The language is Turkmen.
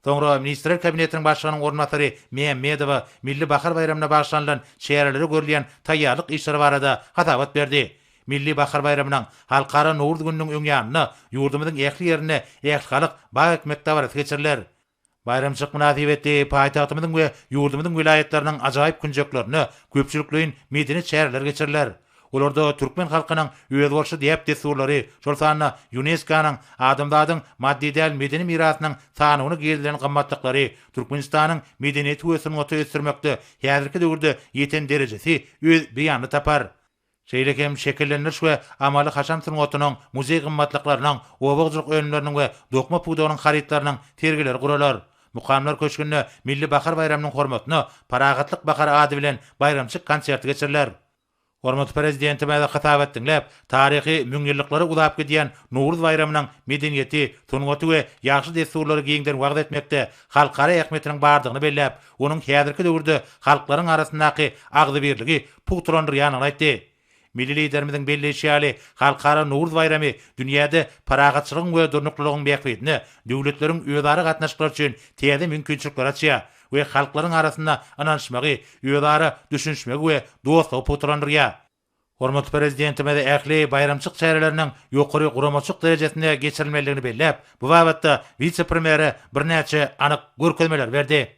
Soňra Ministrler Kabinetiniň Başlygynyň orunbasary Mämmedowa Milli bahar baýramyna bagyşlanylan çärelere görülýän taýýarlyk işleri barada hasabat berdi. Milli bahar baýramynyň, Halkara Nowruz gününiň öň ýanynda ýurdumyzyň ähli ýerinde ählihalk bag ekmek dabarasy geçiriler. Baýramçylyk mynasybetli paýtagtymyzyň we ýurdumyzyň welaýatlarynyň ajaýyp künjeklerinde köpçülikleýin medeni çäreler geçiriler. Olarda türkmen halkynyň özboluşly däp-dessurlary, şol sanda Ýunesko-nyň Adamzadyň maddy däl medeni mirasynyň sanawyna girizilen gymmatlyklary, Türkmenistanyň medeniýeti we sungaty ösdürmekde häzirki döwürde ýeten derejesi öz beýanyny tapar. Şeýle hem şekillendiriş we amaly-haşam sungatynyň, muzeý gymmatlyklarynyň, oba hojalyk önümleriniň we dokma pudagynyň harytlarynyň sergileri guralar. Mukamlar köşgünde Milli bahar baýramynyň hormatyna Parahatlyk bahary ady bilen baýramçyk konserti geçiriler. Hormatly Prezidentimize hytaby et diňläp, taryhy müňýyllyklara uzap gidýän Nowruz baýramynyň medeniýeti, sungaty we ýagşy dessurlary giňden wagyz etmekde halkara ähmiýetiniň bardygyny belläp, onuň häzirki döwürde halklaryň arasyndaky agzybirligi pugtalandyrýandygyny aýtdy. Milli Liderimiziň belleýşi ýaly, Halkara Nowruz baýramy dünýäde parahatçylygyň we durnuklylygyň bähbidine döwletleriň özara gatnaşyklary üçin täze mümkinçilikleri açýar, we halklaryň arasynda ynanyşmagy, özara düşünişmegi we dostlugy pugtalandyrýar. Hormatly Prezidentimiz ähli baýramçylyk çäreleriniň ýokary guramaçylyk derejesinde geçirilmelidigini belläp, bu babatda wise-premýere birnäçe anyk görkezmeleri berdi.